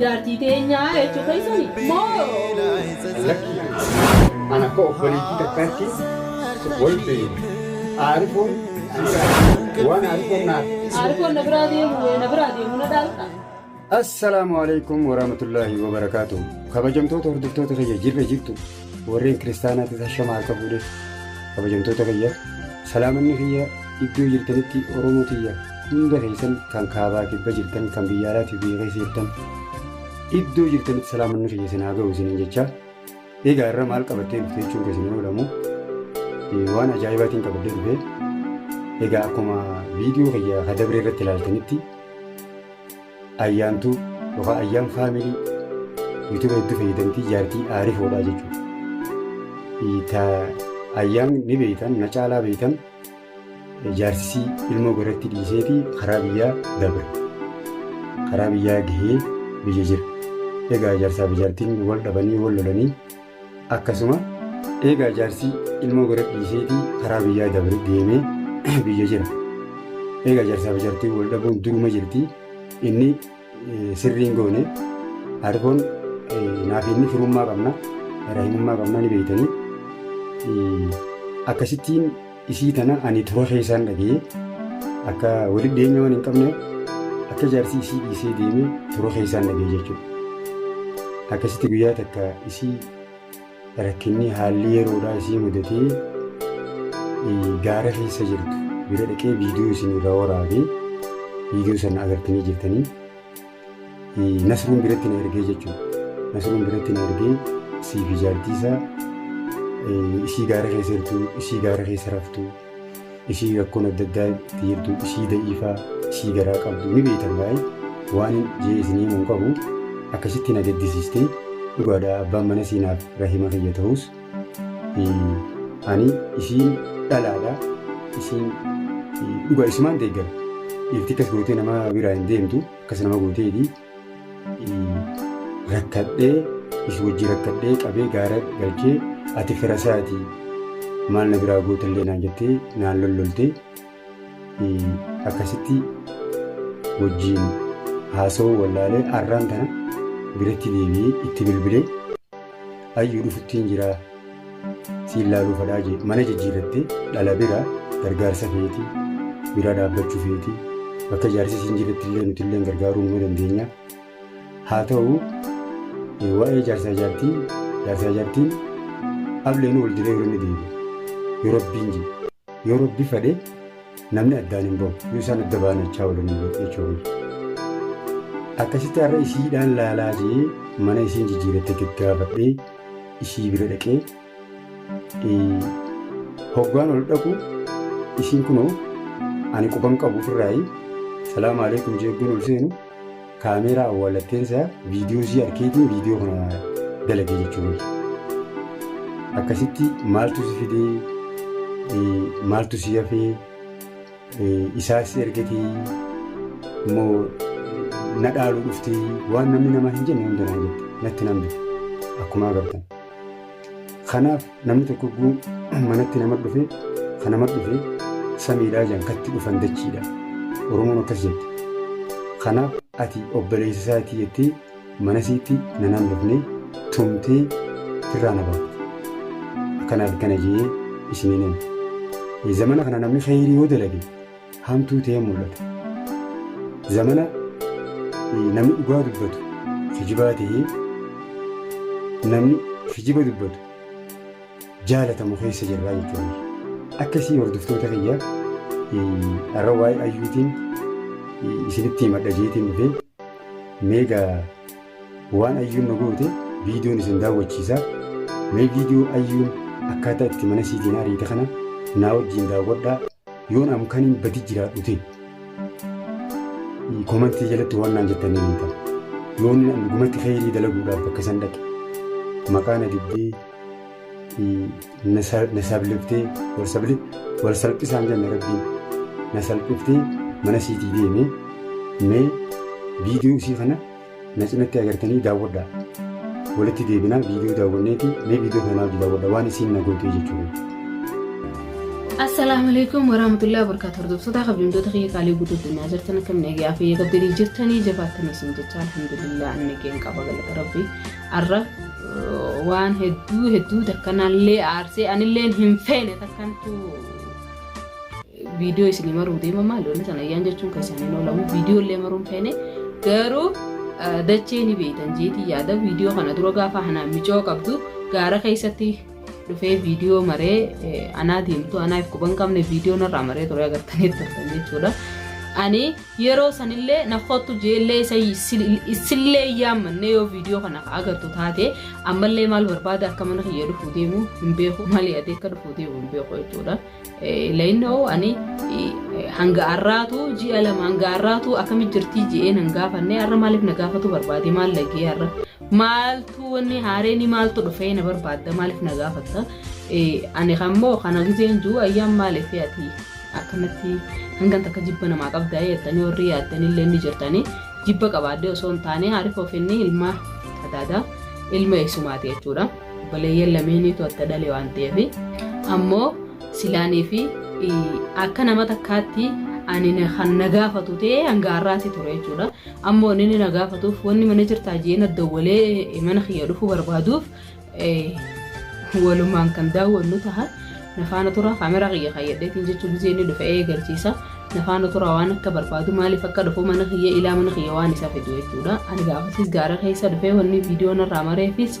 Jaartii teenyaa jechuu keessani moo? Lakkii an akka obboleettii takkaatti wal beeyna. Aarifoon waan aarifoon naaf. Aarifoon na biraa deemu na biraa deemu na dhaalqa. Assalaamu alaikum warahmatullaahi wabarakaatuh kabajamtoota hordoftoota kiyya jirra jirtu Warreen kiristaanaattis hashama harka fuudhe kabajamtoota kiyya salaamanni kiyya iddoo jirtanitti Oromoo kiyya hunda keessan kan kaabaa kibba jirtan kan biyya alaatii biyya keessa jirtan iddoo jirtanitti salaamanni kiyya isin haa ga'u isiniin jechaa egaa irra maal qabattee dhufte jechuun keessan yoo jedhamu waan ajaa'ibaatiin qabadde dhufe egaa akkuma viidiyoo kiyya kadabre irratti ilaaltanitti Ayyaantuu yookaan ayyaan faamilii yuutuba hedduu fayyadamtii jaartii aarifoodhaa jechuudha. Ta ayyaan ni beeytan na caalaa beeytan jaarsisii ilmoo garatti dhiiseeti karaa biyyaa dabre. Karaa biyyaa gahee biyya jira. Egaa jaarsaa fi jaartiin wal dhabanii wal lolanii Akkasuma eegaa jaarsi ilmoo gara dhiiseetii karaa biyyaa dabre deemee biyya jira. Eegaa jaarsaa fi jaartiin wal dhabuun duruma jirti. Inni eh, sirriin goone argoon naaf inni firummaa qabna, rahimummaa qabna ni beektanii. Eh, Akkasittiin Isii tana ani dura keessaan dhagee akka walitti dhiyeenya waan hin qabne akka jaarsi isii dhiisee deeme dura keessaan dhagee jechuudha. Akkasitti guyyaa takka isii rakkinni haalli yeroodhaa isii mudatee gaara keessa jirtu bira dhaqee viidiyoo isin irraa waraabee viidiyoo sana agartanii jirtanii. Nasruun biratti na ergee jechuudha. Nasruun biratti na ergee isii fi jaartii isaa isii gaara keessa jirtu, isii gaara keessa raftu, isii rakkoon adda addaa itti jirtu, isii da'iifaa, isii garaa qabdu ni beektan baay'ee waan jee isinii himuun qabu akkasitti na gaddisiistee dhugaadha abbaan mana siinaaf rahima kiyya ta'us Ani isiin dhalaadha. Isiin dhugaa isimaan deeggara. Dhiirti akkas gootee nama biraa hin deemtu. Akkas nama gooteeti. Rakkadhee is wajjin rakkadhee qabee gaara galchee ati fira isaati maal na biraa gootallee naan jettee naan lolloltee akkasitti wajjiin haasawuu wallaalee arraan tana biratti deebi'ee itti bilbilee ayyuu dhufuttiin jiraa siin laaluu fadhaa jee mana jijjiirrattee dhala bira gargaarsa feeti bira dhaabbachuu feeti bakka jaarsi siin jirretti illee nuti illee gargaaruu numa dandeenya haa ta'u waa'ee jaarsaa jaartii jaarsaa jaartiin ableen wal diree yeroo inni deebi'e yeroo abbiin jee Yoo rabbi fadhe namni addaan hin bahu. Yoo isaan adda ba'an achaa waliin hin bahu jechuudha. Akkasitti har'a isiidhaan laalaa jee mana isiin jijjiiratte gaggaafadhee isii bira dhaqee hoggaan ol dhaqu isiin kunoo ani quban qabu ofirraayi salaama aleekum jeegguun ol seenu Kaameeraa awwaalatteen isaa viidiyoo isii arkeetiin viidiyoo kana dalage jechuu miti. Akkasitti maaltu si fidee eh, maaltu si hafee eh, isaa si ergatee immoo na dhaaluu dhuftee waan namni namaa hin jenne hunda naan jette natti nan bite akkuma agartan. Kanaaf Namni tokko guu manatti nama dhufe kan nama dhufe samiidhaa jedhan katti dhufan dachiidha. Oromoon akkas jette. Kanaaf ati obboleessa isaatii jettee mana isiitti na naannofnee tumtee irraa na baafte. Kanaaf kana jee isiniin hima. Zamana kana namni kheyrii yoo dalage hamtuu ta'ee mul'ata. Zamana namni dhugaa dubbatu kijibaa ta'ee namni kijiba dubbatu jaalatamu keessa jirra jechuudha. Akkasii hordoftoota kiyya har'a waa'ee ayyuutiin isinitti himadha jeetiin dhufee meegaa Waan ayyuun nu goote viidiyoon isin daawwachiisa. Mee viidiyoo ayyuun akkaataa itti mana siitiin ariite kana naa wajjin daawwadhaa. Yoon am kaniin badi jiraadhu ta'e komantii jalatti waan naan jettan ni beektan. Yoon an dhugumatti kheyrii dalaguudhaaf bakka san dhaqe maqaa na dibdee na sabliftee wal salphisaan jenne rabbiin na salphiftee mana siitii deemee mee viidiyoo isii kana na cinatti agartanii daawwadha. Walitti deebinaa viidiyoo daawwanneeti mee viidiyoo kanaa hojii daawwadha waan isiin na gootee jechuudha. Assalaamu alaikum warahmatullahi wabarakatuh. Hordoftoota kabajamtoota kiyya qaalii guutuu addunyaa jirtan akkam nagaa fi eega abdanii jirtanii jabaattanii isin jecha alhamdulillah anni keen qaba galata rabbi. Arra waan hedduu hedduu takkanallee aarsee anilleen hin feene takkantu Viidiyoo isinii maruu deema maal wanni sana ayyaan jechuun keessaan hin oolamu viidiyoo illee maruun feene garuu dachee ni beektan jeetii yaada viidiyoo kana dura gaafa hanaan micoo qabdu gaara keessatti dhufee viidiyoo maree anaa deemtu anaa if quban qabne viidiyoo narraa maree ture agartanii turtan jechuudha. Ani yeroo sanillee na kottu jeellee isillee yaammanne yoo viidiyoo kana agartu taate ammallee maal barbaada akka mana kiyya dhufuu deemu hin beeku malee adee akka dhufuu deemu hin beeku jechuudha. Layinnoo ani hanga har'aatu ji'a lama hanga har'aatu akkamitti jirtii ji'ee nan gaafanne har'a maaliif na gaafatu barbaade maal lagee har'a maaltu wanni haareenii maaltu dhufee na barbaadda maaliif na gaafatta ani kammoo kana gizeen jiru ayyaan maaliif ati akkanatti hangan takka jibba namaa qabdaa yaadanii warri yaadanii illee ni jirtanii jibba qabaadde osoo hin taane haariif ofinnii ilmaa adaadaa ilma eessumaati jechuudha. Obboleeyyan lameeniitu adda dhale waan ta'eef ammoo silaanii fi akka nama takkaatti ani kan na gaafatu ta'ee hanga har'aatti ture jechuudha. Ammoo inni inni na gaafatuuf wanni mana jirtaa jee na dawwalee mana kiyya dhufuu barbaaduuf walumaan kan daawwannu taha. Na faana tura kaamera kiyya kayyadheetiin jechuun gisee inni dhufe eegalchiisa. Na faana tura waan akka barbaadu maaliif akka dhufu mana kiyya ilaa mana kiyya waan isa fidu jechuudha. Ani gaafasiis gaara keessa dhufee wanni viidiyoo narraa mareefis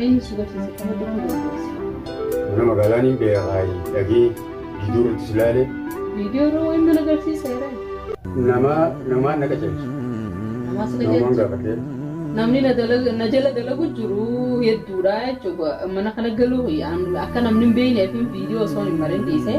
Eenyu si barsiise kan hojjechuu dandeessu? Mana magaalaan hin beekaayi dhagee viidiyoo irratti si laale. Viidiyoo irra wayiin mana agarsiiseera. Nama namaan na qajeelcha. Namaa si Namaan qajeelcha. gaafadhee. Namni na dalag- na jala dalagu jiru hedduudha jechuudha. Mana kana galuuf yaan- akka namni hin beekneef viidiyoo osoo hin marin dhiisee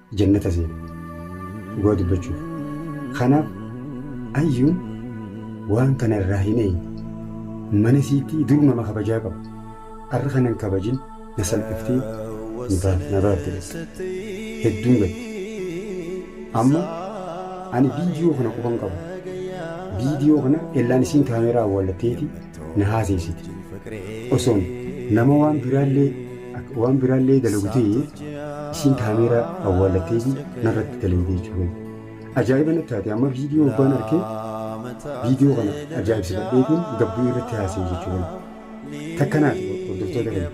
jannata seene dhugaa dubbachuuf kanaaf ayyuun waan kana irraa hin eeyne mana siitii dur nama kabajaa qabu arra kanan kabajin na salphiftee na baafte bakka hedduun gadde amma ani viidiyoo kana qofan qaba viidiyoo kana ellaan isiin kaameeraa awwaallatteeti na haaseesiti. Osoon nama waan biraallee akka waan biraallee dalagu ta'e isiin kaameeraa awwaallatteeti narratti dalagde jechuudha. Ajaa'iba natti taate amma viidiyoo obbaan arkee viidiyoo kana ajaa'ibsifadheetiin gabbii irratti haasa'e jechuudha. Takka naati hordoftoota kana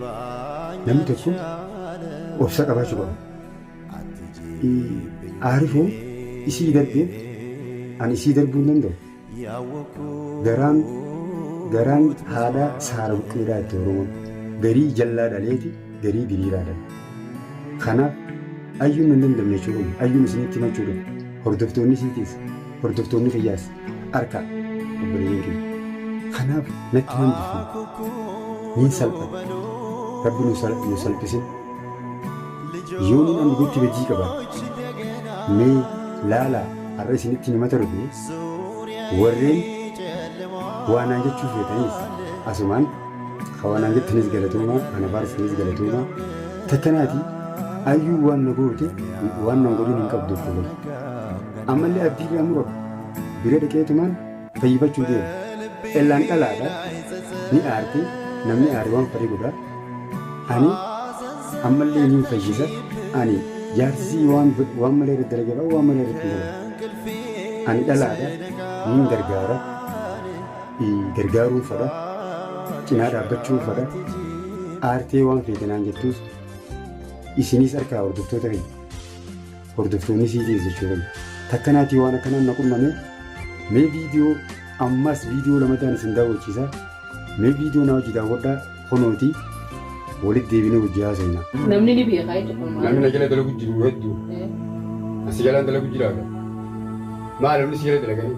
namni tokko obsa qabaachuu qaba. Aarifuun isii darbeef ani isii darbuu hin danda'u. Garaan garaan haadhaa saara buqqeedhaa itti Oromoon. Garii jallaa dhaleeti garii diriiraa dhale. Kanaaf ayyuun nan dandamne jechuu kun ayyuun isinitti himachuu dhufu hordoftoonni isiitiis hordoftoonni kiyyaas harka obboleeyyan kiyya. Kanaaf natti hin hambifne niin salphadhe rabbi nu sal- nu salphisin yoon inni ani gotti bajii qabaadhe mee laalaa har'a isinitti himata dhufe Warreen waa naan jechuu feetaniis asumaan ka waa naan jettanis galatoomaa ka na faarsisanis galatoomaa takkanaati ayyuu waan na goote waan nan godhin hin qabdu obboloo ammallee abdii irraa muradu bira dhaqeetumaan fayyifachuu deema ellaan dhalaadha ni aarti namni aare waan fedhe godha ani ammallee ni fayyisa ani jaarsisii waan waan malee irratti dalaga ba'a waan malee irratti dalaga ani dhalaadha niin gargaara gargaaruun fadha cinaa dhaabbachuun fadha aartee waan feetanaan jettuus isinis harkaa hordoftoota keenya Hordoftoonni sii keessa jiran takka naatii waan akkanaan na qunname mee viidiyoo ammas viidiyoo lamataan isin daawwachiisa mee viidiyoo na hojii daawwadhaa kunooti walitti deebinee hojii haasofna. Namni ni beekaa jechuudha. Namni na jala dalagu jiru hedduu. Asi jalaan dalagu jiraata. Maal namni si jala dalaganii?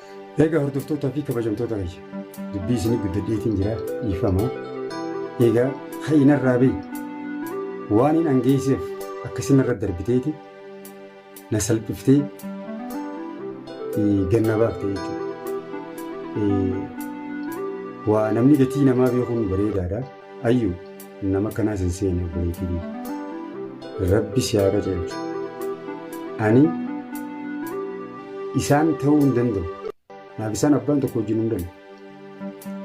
Eegaa hordoftootaa fi kabajamtoota kiyya dubbii isinii guddadheetiin jira dhiifama. Eegaa ka'inarraa bahi waan hin angeesseef akkasinarra darbiteeti na salphiftee ganna baafte jechuudha. Waa namni gatii namaa beekuun bareedaadha. Ayyu nama akkanaa sin seene obboleetii biyya. Rabbi si haa qajeelchu. Ani isaan ta'uu hin danda'u. Naaf isaan abbaan tokko wajjin hin danda'u.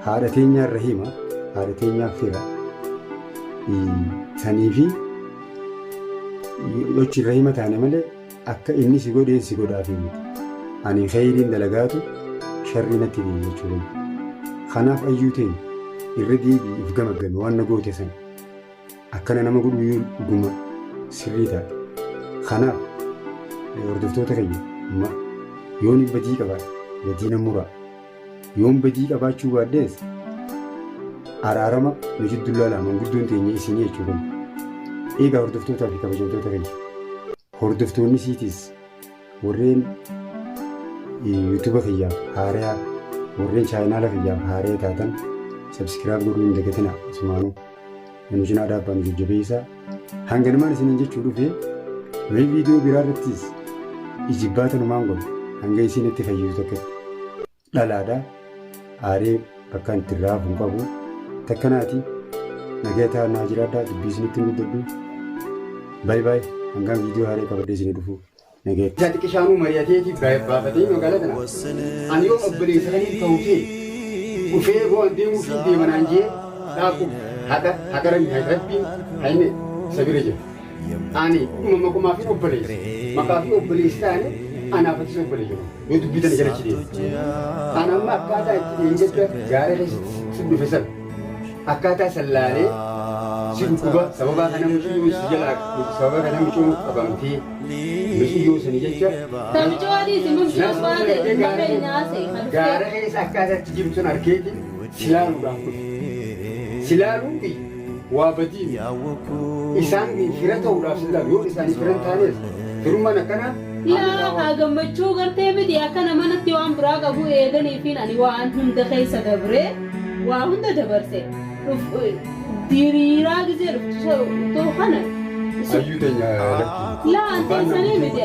Haadha teenyaa irra hima, haadha teenyaa fira. Sanii fi yochi irra hima taane malee Akka inni si godheen si godhaafii miti. Ani kheyriin dalagaatu sharrii natti hime jechuu wayya. Kanaaf ayyuu teenya irra deebi'i if gamaggami waan na goote san. Akkana nama godhuu yoo dhuguma sirrii taate. Kanaaf hordoftoota kiyya yoon badii qabaadhe badii na muraa. Yoon badii qabaachuu baadhees araarama nu jidduu laalaa manguddoon teenya isinii jechuu kun. Eegaa hordoftootaa fi kabajamtoota keenya. Hordoftoonni siitis warreen yuutuuba kiyyaaf haarayaa warreen chaayinaala kiyyaaf haaree taatan sabskiraab godhuu hin dagatinaa asumaanuu. Ani isin aadaa abbaan jajjabeessa. Hanganumaan isiniin jechuu dhufe mee viidiyoo biraa irrattis ijibbaata numaan godhu hanga isiin itti fayyisu takkatti. Dhalaadha. Aaree bakkaan itti irraa hafuun qabu. Takka naati. Nagaya ta'aa naa jiraadhaa dubbii isinitti hin guddadhu. Baay baay hangaan viidiyoo haaree qabadhee isinii dhufu. Nageetti. Ati xiqishaanuu mari'ateeti baafatee nu galatna. Ani yoon obboleessa kaniif ta'u ta'e dhufee boo an deemuufiin deema naan jee dhaaqu haqa haqa rabbi rabbiin hayne isa bira jira. Ani dhuma maqumaafin obboleessa maqaafii obboleessi taane anaaf atis obboleeyya koo yoo dubbii tana jalachi deema. An amma akkaataa itti dheengadda gaara keessatti sin dhufe san akkaataa san laalee si dhukkuba sababaa kana muciyyoon si jalaa sababa kana muciyyoon qabamtee muciyyoo sani jecha gaara keessa akkaataatti jirtu sun arkeeti silaaluudhaaf dhufe silaaluun fi waa badii isaan fira ta'uudhaaf silaalu yoo isaan fira hin taanes firummaan akkanaa Yaa haa gammachuu gartee miti akka nama natti waan biraa qabu eeganiifiin ani waan hunda keessa dabree waa hunda dabarse diriiraa gizee dhuftu kana. Ayyuu teenya lakki. Laa anteessanii miti.